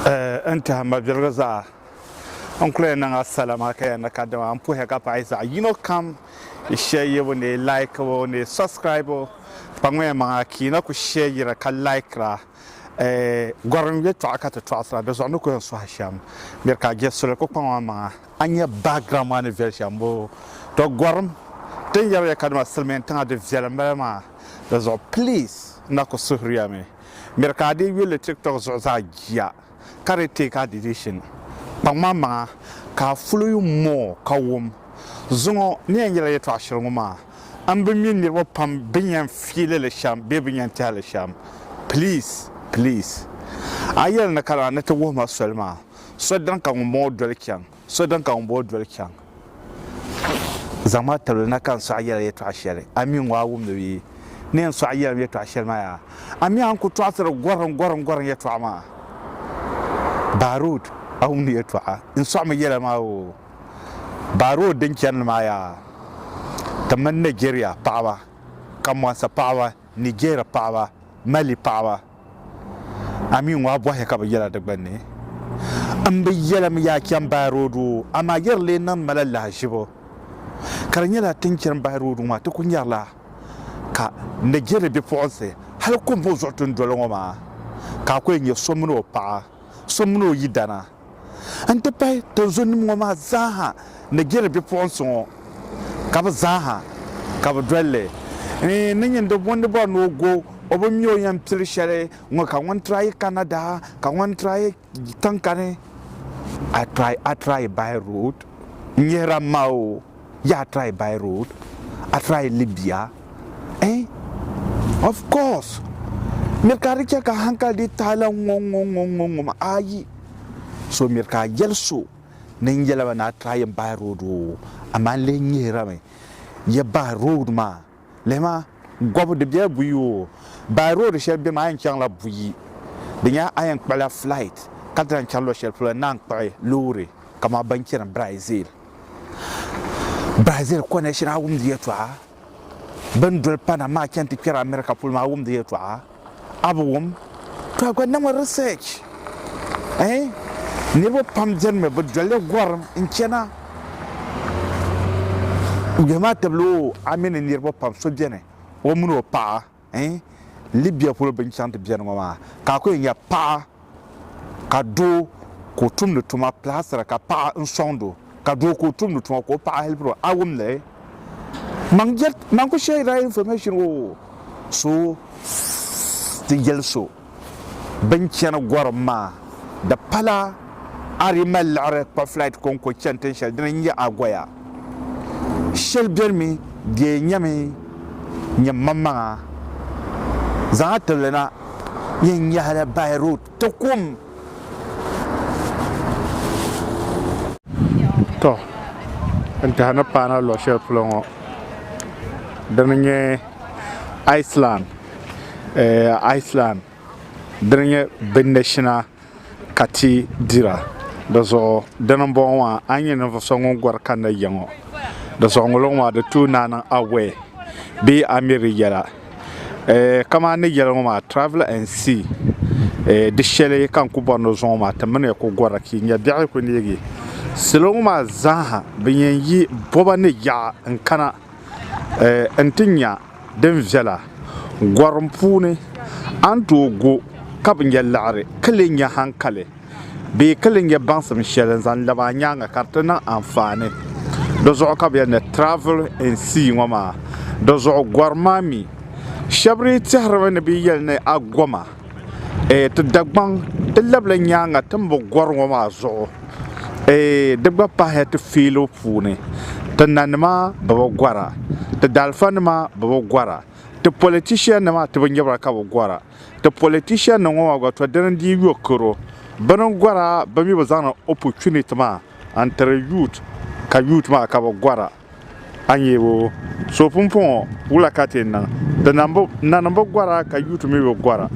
Ɛɛ n tɛha mabiligu zaa, n kuli niŋ a sala maa ka ya ni kadama n puhiya ka paɣi zaɣ yino kam yi shɛyibu ni yi laikibu ni yi subscribu kpaŋmiya maŋa ka yi na kuli shɛyira ka laikira ɛɛ gɔrim yɛtɔɣa ka ti tɔɣisira di zuɣu ni kuli yɛn sɔhi shɛm miri ka a je suli kuli kpaŋ a maŋa a nya background maa ni viɛli shɛm boo tɔ gɔrim din yɛriya kadama silimiintiŋa di viɛlim bala maa di zuɣu please n na kuli suhiriyami. Miri ka a dii yuli TikTok zuɣu zaa jia ka di take a decision. Kpaŋmaŋmaŋa ka a follow you more ka wum. Zuŋɔ ni yɛn yɛla yɛtɔɣa shɛli ŋɔ maa, m bi mi niriba pam bini yɛn fiili li shɛm bee bini yɛn tehi li shɛm. Please, please. A yɛli ni kana ni ti wuhi ma soli maa, so dini ka ŋumbɔŋɔ doli chaŋ? So din ka ŋun bo doli chaŋ, zaŋ ma tibili na ka n sɔɣi yɛla yɛtɔɣ shɛli a mi ŋɔ a wumdi bɛ yi ni yɛn sɔɣi yɛlim yɛtɔɣ shɛli maa yaa? A mi a ni ku tɔɣisiri gɔrim gɔrim gɔrim yɛtɔɣa maa? Baarud, a wumdi yɛtɔɣa n sɔɣimi yɛla maa oo? Baarud din chani li maa yaa? Ti mini Nɛjɛriya paɣiba, Kamwansa paɣiba, Nijɛri paɣiba, Mali paɣiba, A mi ŋɔ a bɔhi ka bi yɛla di gbunni, M bi yɛlim ya chani bahi roodu, amaa yi di lee niŋdi ma la lahiʒibu. Ka di nyɛla ti ni chani bahi roodu ŋɔ maa ti ku nyarila ka n ni jɛri bipuɣinsi hali kɔmbo zuɣu ti ni doli ŋɔ maa ka a ku yɛn nyɛ so mini o paɣa, so mini o yidana. n-ti pahi tinzunnim ŋɔ maa zaaha ni jɛri bipuɣinsi ŋɔ, ka bɛ zaaha ka bɛ doli li. N ni nyin di bondi bɔri ni o go o bi mi o yɛn pili shɛli ŋɔ, ka ŋun tira yi Canada, ka ŋun tira yi tiŋkani, a tira yi by road n-nyihira m ma o. Yaa try by road, a try Libya eh? Of course! Miri ka di chɛ ka hankali dii taai la ŋɔ ŋɔ ŋɔ ŋɔ ŋɔ ma ayi. So miri ka a yɛli so ni n yɛla ba ni a try n by road oo, amaa n lihi nyihirami yɛ by road maa. Lihima, Gɔbu di bela buyi o. By road shɛli bemi a yɛn chaŋla buyi. Di nyɛla a yɛn kpuɣila flight ka di lahi chani luɣ shɛli polo naan kpuɣi loori kaman ban chani Brazil. Brazil connection a wumdi yɛltɔɣa. Bɛn doli Panama chani ti kpɛri America polo maa a wumdi yɛltɔɣa. A bi wum? To a gba niŋmi research eh niriba pam beni mi bi dolli gorim n chana bihi maa tibili o a mi ni niriba pam so beni o mini o paɣa eh Libya polo bini chaŋ ti beni ŋɔ maa ka a ku yɛn nya paɣa ka doo ka o tumdi tuma plaastra ka paɣa n sɔŋdi o ka doo ka o tumdi tuma ka o paɣa helpiri o a wumli man jet man ku share that information o so ti yɛli so bin chani gɔrim maa di pala a di mali liɣiri kpa flight kɔŋko chani tin shɛli dini n-nyɛ Agoya Shɛli benimi bɛ nyami nyɛmmaŋmaŋa zaŋa tibili na yɛn nyahila by road ti kum. Tɔ n tɛha ni paana luɣ shɛli polo ŋɔ dini nyɛ Iceland, Iceland dini nyɛ binashina. ka ti dira. Di zuɣu dini m bɔŋɔ maa a ni nyɛ ninvuɣu so ŋun gɔri kanna ya ŋɔ di zuɣu ŋoliŋ maa di tuui ni a niŋ aware bee a mi di yɛla kamani ni yɛli ŋɔ maa travel and see di shɛli ka n ku bɔri ni zuŋɔ maa ti mini ya ku gɔra ka yi nya biɛɣu yi ku neegi salo ŋɔ maa zaa ha ban yɛn yi bɔba ni yaɣa n kana eh, nti nya din viɛla gɔrim puuni, a ni tooi go ka bi nya laɣiri ka lee nya hankali bee ka lee nya baŋsim shɛli n-zaŋ labi a nyaaŋa ka di ti niŋ anfaani. Di zuɣu ka bɛ yɛli ni travel and see ŋɔ maa. Di zuɣu gɔri maa mi, shɛba dii tɛhirimi ni bɛ yɛli ni a goma. eh, ti Dagbaŋ ti labila nyaaŋa ti ni bi gɔri ŋɔ maa zuɣu eh, di gba pahiya ti fiilo puuni ti nanima bi bi gɔra ti daalifanima bi bi gɔra ti politiciannima ti binyɛbira ka bi gɔra ti politiciannim ŋɔ maa gba to dini n dii yo karo bɛ ni gɔra bɛ mi bi zaŋdi opportunity maa n tiri youth ka youth maa ka bi gɔra A ni yɛ o so pumpɔŋɔ wula ka ti niŋ? Di nanim bi gɔra ka yuut mi bi gɔra.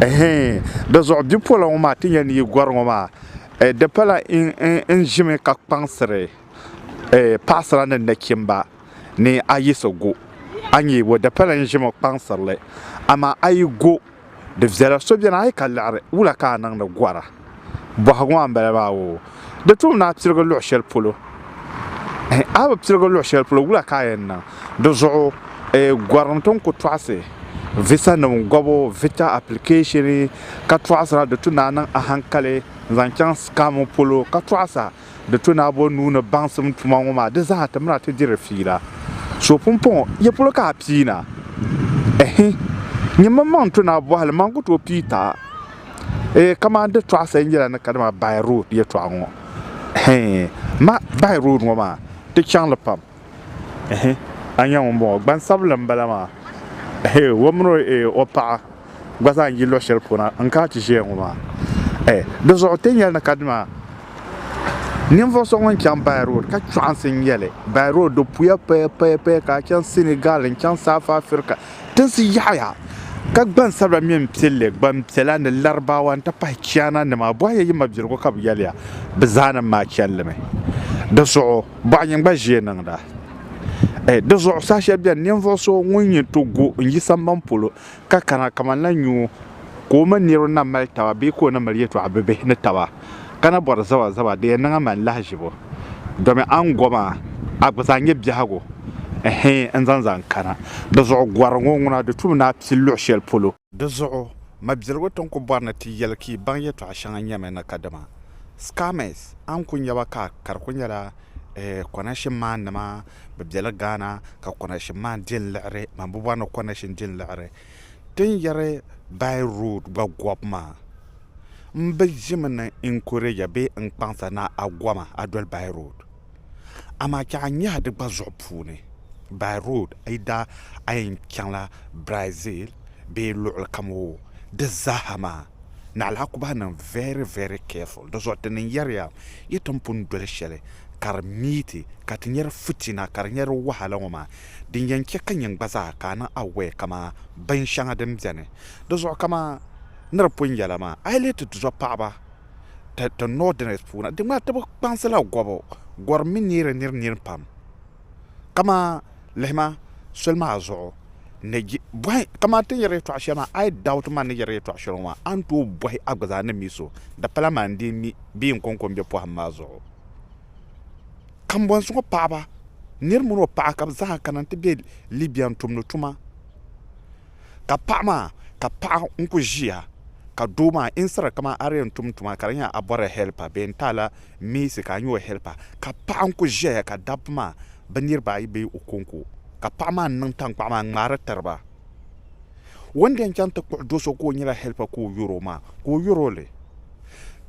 Ɛhɛin! Di zuɣu bipola ŋɔ maa ti nya ni yi gɔri ŋɔ maa, di pala n ʒimi ka kpaŋsiri paɣisira ni nachimba ni a yiɣisi go. A ni yɛ o, di pala n ʒimi kpaŋsiri li, amaa a yi go. Di viɛla so beni a yi ka liɣiri, wula ka a niŋdi gɔra? Bɔhigu maa m-bala maa oo. Di tum ni a pirigi luɣ shɛli polo. A bi pirigi luɣ shɛli polo, wula ka a yɛn niŋ? Di zuɣu gɔrim ti ni ku tɔɣisi visanim gɔbu, vita application, ka tɔɣisira di tu ni a niŋ ahankali n-zaŋ chaŋ scam polo ka tɔɣisa. di to ni a bo nuu ni baŋsim tuma ŋɔ maa, di zaa ti miri a ti diri fiila. So pumpɔŋɔ, ya polo ka a pii na? Ɛhi, nyini mi maŋ n-to ni a bɔhili, man ku tooi pii ta. Ɛɛ, kamani di tɔɣisiri nyɛla ni ka dama by road yɛtɔɣa ŋɔ. Ɛhi, ma, by road ŋɔ maa, di chaŋ li pam. ehe, a nya ŋun bɔŋɔ, gbansabinli m-bala maa, ehe, o min o e, o paɣa gba zaa n-yi luɣ shɛli puuna n-ka a ti ʒiya ŋɔ maa, e, di zuɣu ti ni yɛli ni kadima ninvuɣ so ŋun chaŋ Bayi Road ka chɔɣinsi n-nyɛ li, Bayi Road di puya paya paya paya ka a chaŋ Sinigal n-chaŋ South Africa tinsi yaɣiya ka gbansabila mi m-pili li, gbampiɛla ni Laribaawa n-ti pahi Chiana nima, bɔhiya yi mabiligu ka bɛ yɛliya bɛ zaa nim maa chani li mi di zuɣu. bɔɣiyin gba ʒiɛ niŋda. Eh, di zuɣu saha shɛli beni ninvuɣu so ŋun nyin ti gu n-yi samban polo ka kana kamanla nyuo ka o mini niriba na mali taba bee ka o na mali yɛtɔɣa bibihi ni taba ka na bɔri zabazaba di yɛn niŋ a man lahiʒibu domi a ni go maa a gba zaa nyɛ biɛhigu eh n-zaŋ zaŋ kana. Di zuɣu gɔri ŋɔ ŋuna di tum ni a pili luɣ shɛli polo. Di zuɣu, mabiligu ti ni ku bɔri ni ti yɛli ka yi baŋ yɛtɔɣa shɛŋa nyɛmi ni ka dama, scammers, a ni ku nya ba ka ka di ku nyɛla eh, connection man nima, bɛ be li Ghana ka connection man di n-liɣiri, man bi bɔri ni connection di n-liɣiri ti ni yɛri by road gba gɔbu maa, m bi ʒimi ni encourager bee n-kpaŋsa ni a goma a doli by road. amaa chɛ a nyɛhi di gba zuɣu puuni, by road, a yi daa a yɛn chaŋla Brazil bee luɣilikam o di zaaha maa, naɣila a ku bahi niŋ very, very careful. Di zuɣu ti ni yɛriya yi tin pun doli shɛli ka di miiti ka ti nyari fitina ka di nyɛ di wahala ŋɔ maa, din yɛn chɛ ka nyin gba zaa ka a niŋ aware kaman binshɛŋa din beni di zuɣu kaman ni di pun nyɛla maa, a yi lihi ti tizɔpaɣiba. ti Northerners puuni di ŋmanila ti bi kpaŋsila gɔbu gɔrim mi neeri niri nini pam ka maa lihima soli maa zuɣu ka maa ti ni yɛri yɛltɔɣa shɛli maa I doubt maa ni yɛri yɛltɔɣa shɛli ŋɔ maa a ni tooi bɔhi a gba zaa ni mi so di pala maa n-dii mi bee n kɔŋko m-be pɔhim maa zuɣu kambɔnsi ŋɔ paɣaba niri mini o paɣa ka bɛ zaa kana nti be Libya n-tumdi tuma ka paɣa maa ka paɣa n kuli ʒiya ka doo maa in siri kamani a di yɛn tum tuma ka di nyɛla a bɔrila hɛlp a bee n taala miisi ka a nyɛ o hɛlp a ka paɣa n kuli ʒɛya ka dabba maa bi niraba ayi bee o konko ka paɣa maa ni niŋ tankpaɣu maa n ŋmaari tiriba o ni di yɛn chɛŋ ti kpuɣi do so ka o nyɛla hɛlp ka o yɛro maa ka o yɛroli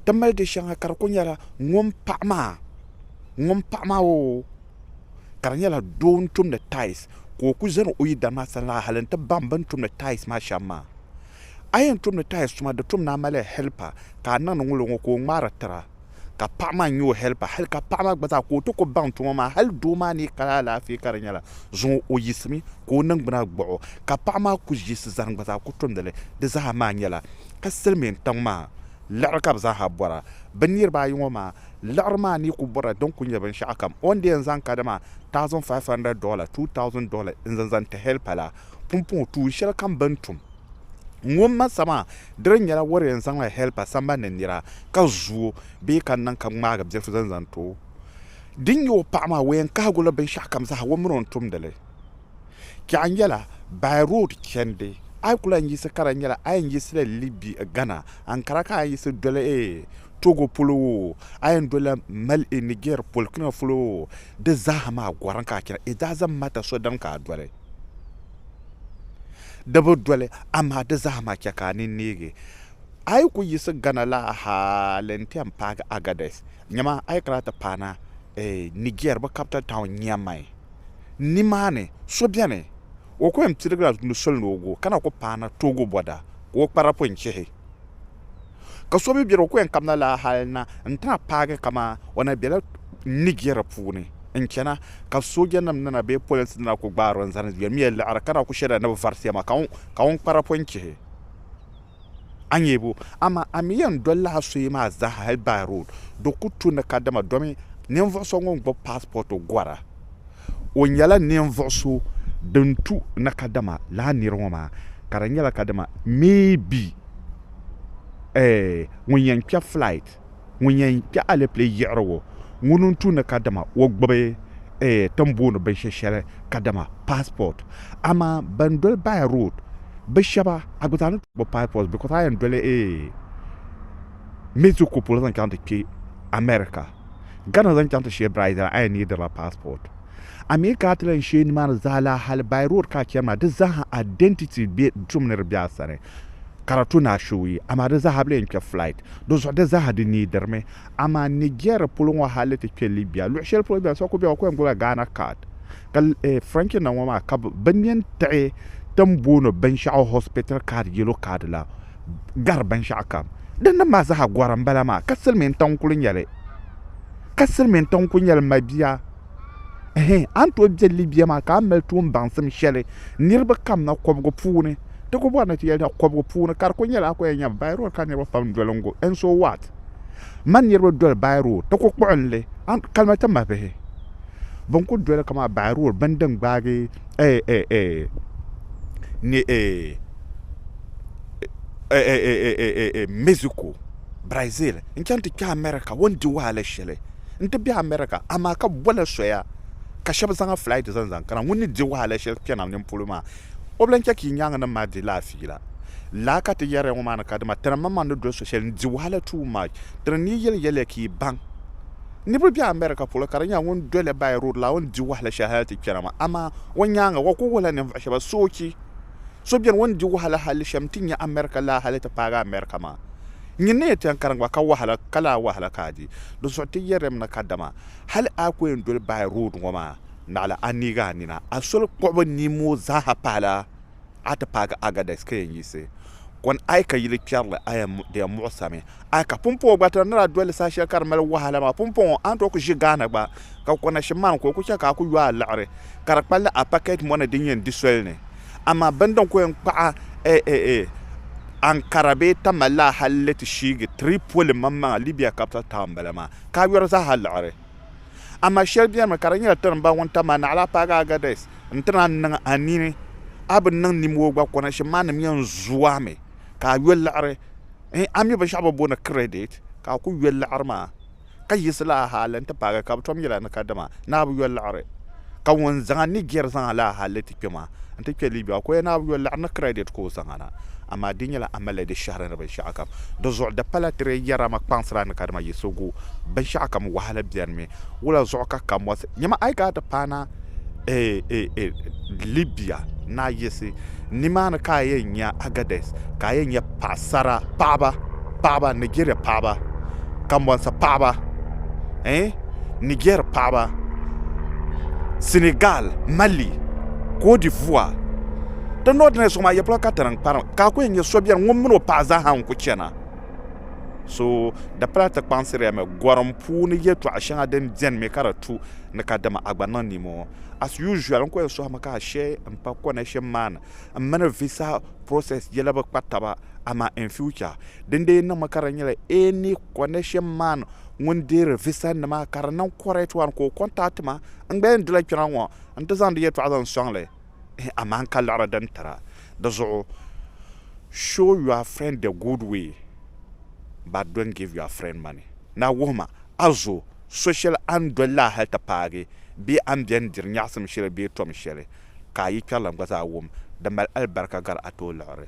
ti mali di shɛŋa ka di ku nyɛla ŋun paɣa maa ŋun paɣa maa o ka di nyɛla doo n tumdi tiles ka o ku zani o yidana maa sani la hali n ti baŋ bini tumdi tiles maa shɛm maa a yɛn tumdi tiles tuma di tum ni a mali helper ka a niŋdi ŋun ŋɔ ka o ŋmaari tira ka paɣa maa nyɛ o helper hali ka paɣa maa gba zaa ka o ti ku baŋ tuma maa hali doo maa ni kali alaafee ka di nyɛla zuŋɔ o yiɣisimi ka o ningbuna gbuɣi o ka paɣa maa ku yiɣisi zani gba zaa ku tumdili di zaa maa nyɛla ka silmiin tiŋ maa liɣiri ka bi zaaha bɔra bi niraba ayi ŋɔ maa Liɣiri maa ni ku bɔra din ku nyɛ binshɛɣu kam o ni di yɛn zaŋ kadama $1,500, $2,000, n-zaŋ zaŋ ti hɛli pala pumpɔŋɔ tuun shɛli kam bɛ ni tum ŋɔ m-ma sa maa, di di nyɛla o di yɛn zaŋla hɛli pa sambani ni nira ka zu o bee ka niŋ ka ŋmaagi bilifu zaŋ zaŋ ti o. Din nyɛ o paɣa maa, o yɛn kahigu li binshɛɣu kam zaa o mini o ni tumdi li. Kpɛɣu nyɛla by road chandi a yi ku lahi yiɣisi ka di nyɛla a yɛn yiɣisila Libi Ghana ankara ka a yiɣisi doli Togo polo oo a yɛn dolila Mali Niger Burkina polo oo di zaaha maa gɔrim ka a chana it doesn't matter sodani ka a doli di bi doli amaa di zaaha maa chɛ ka a ni neegi a yi ku yiɣisi Ghana la hali n ti yɛn paagi Agadez nyama a yi kana ti paana Niger bɛ capital town Niamey Nimaani, so beni, o ku yɛn piligila tumdi soli ni o gu, ka na ku paana toogi bɔda ka o kpara pun chihi. Ka so mi beni, o ku yɛn kabina laa hal na nti na paagi kaman o na bela Niger puuni n-chana, ka soojanim nina bee polinsi nina ku gbaari o n-zani yɛlimiya liɣiri, ka na ku shirila ni bɛ varisi ya maa, ka ŋun kpara pun chihi. a nyɛbu. Amaa a mi yɛn dol la a suye maa zaaha hal Bai Road. Do ku tu ni kadama domi ninvuɣ so ŋun gbubi passport gɔra, o nyɛla ninvuɣ so din tu ni kadama lala nir ŋɔ maa ka di nyɛla kadama maybe eh ŋun yɛn kpɛb flight. ŋun yɛn kpe alɛpilɛ yiɣirigu ŋuni n tumdi kadama o gbubi ti ni booni binshɛ shɛli kadama passport amaa ban doli by road bi shɛba a gba zaa ni gbubi passport because a yɛn doli Mexico polo zaŋ chaŋ ti kpe America Ghana zaŋ chaŋ ti shɛ Brazil a yɛn needila passport. A mi ka a ti lan sheei nimaani zaa laa hali by road ka a chani maa, di zaaha identity be tum ni di be a sani ka di tu ni a shewuyi amaa di zaaha bi lee ni kpe flight di zuɣu di zaaha di needi mi amaa Niger polo ŋɔ hali ti kpe Libya luɣi sheli polo beni so kuli be o ku yɛn gbubi la Ghana card ka eh, French nim ŋɔ maa ka bi nyen tiɣi tin booni binshɛɣu hospital card yellow card la gari binshɛɣu kam din niŋ maa zaa gɔri n bala maa ka silmiin tiŋ n kuli nyɛli ka silmiin tiŋ n kuli nyɛli mabia a ni tooi bɛ libya maa ka a ni mali tuun baŋsim shɛli niraba kamina kobigi puuni ti ku bori ni ti yɛli kobigi puuni ka di ku nyɛla a ku yɛn nyɛ bai rood ka niraba pam doli n go ɛn so waat mani niraba doli bai rood ti ku kpuɣunli kalima ti mahi bihi bin ku doli kamani bai rood bini din gbaagi ni ee Mexico, Brazil n chaŋ ti kpɛ America o ni di wahala shɛli n ti bɛ America amaa ka bola soya ka shɛba zaŋ flight zaŋ zaŋ kana ŋun ni di wahala shɛli kpɛna nini polo maa o bi lan chɛ ka yi nyaaŋa nim maa di laa fiila laa ka ti yɛriya ŋɔ maa ni ka dima tana maŋmaŋ ni doli so shɛli n di wahala too much tiri n ni yɛli yɛliya ka yi baŋ niriba bɛ America polo ka di nyɛla ŋun doli by road laa o ni di wahala shɛli hali ti kpɛna maa amaa o nyaaŋa o kuli wuhila ninvuɣu shɛba soochi So beni o ni di wahala hali shem nti nya America laa hali ti paagi America maa. Nyin ni yɛn ti yɛn karim gba ka wahala ka laa wahala ka a di. Dinzuɣu ti yɛrili mi na kadama hali a ku yɛn doli Bayi Road ŋɔ maa naɣila a neegi a nina. A soli kpuɣibu nia ŋɔ zaaha pahila a ti paagi Agadez ka yɛn yiɣisi kɔni a yi ka yili kpɛrili a yɛn di yɛn muɣisirimi. A yi ka pumpɔŋɔ gba tira ni daa doli saha shɛli ka di mali wahala maa, pumpɔŋɔ a ni tooi ku ʒi Ghana gba ka ku kanashim maa ni ka o ku chɛ ka a ku yo a liɣiri ka di kpalli a pakɛt mɔni din yɛn di soli ni. Amaa bini din ku yɛn kpaɣ a Ankara bee Tamale la hal ni ti shiigi Tripoli maŋmaŋa, Libya capital town m-bala maa, ka a yɔri zaa ha liɣiri. Amaa shɛli benimi ka di nyɛla ti ni baŋ ŋun tam a naɣila a paagi Agadez nti naan niŋ a nini a bi niŋ nimooi gba, kanashim maa nim yɛn zooi a mi ka a yo liɣiri. N ami binshɛɣu bɛ booni credit ka a ku yoli liɣiri maa, ka yiɣisi laa hali nti paagi ka bɛ tom yɛl a ni kadama ni a bi yoli liɣiri. Ka ŋun zaŋ a Niger zaŋ a laa hali ti kpe maa, nti kpe Libya maa, ka o yɛli ni a bi yoli liɣiri ni credit ka o zaŋ a na. Amaa di nyɛla a malila di shɛhiri ni binshɛɣu kam. Di zuɣu di pala ti lee yɛra ma kpaŋsiri a ni kadama yiɣisigu. Binshɛɣu kam wahala benimi. Wula zuɣu ka ka mɔsi? Nyama a yi gaa ti paana? Libia naa yiɣisi nimaani ka a yɛn nya Agadez ka a yɛn nya paɣasara paɣaba paɣaba Nigeria paɣaba Kanbonsi paɣaba Niger paɣaba Senegal Mali Cote d'Ivoire di north na zuɣu maa yɛpolo ka tinim kparim ka a ku yɛn nya so biɛni ŋun mini o paɣa zaaha n ku chɛna so di pala ti kpaŋsiriya mi gɔrim puuni yɛltɔɣa shɛŋa din biɛni mi ka di tu ni ka dama a gba niŋ nimoo as usual n ko ya sohi mi ka a she n pa connection maa ni n mini visa process yela bi kpa taba amaa in future din dee niŋ mi ka di nyɛla any connection man ŋun deeri visa nima ka di niŋ correct one ka o contact ma n gba yɛn dila kpɛna ŋɔ n ti zaŋdi yɛltɔɣa zaŋ sɔŋ li amaa n ka liɣiri din tira di zuɣu show your friend the good way but don't give your friend money na wuhi ma a zo so shɛli a ni doli la hali ti paagi bee a ni beni diri nyaɣisim shɛli bee tom shɛli, ka a yi kpɛrilim gba zaa wum di mali alibarika gari a tooliɣiri.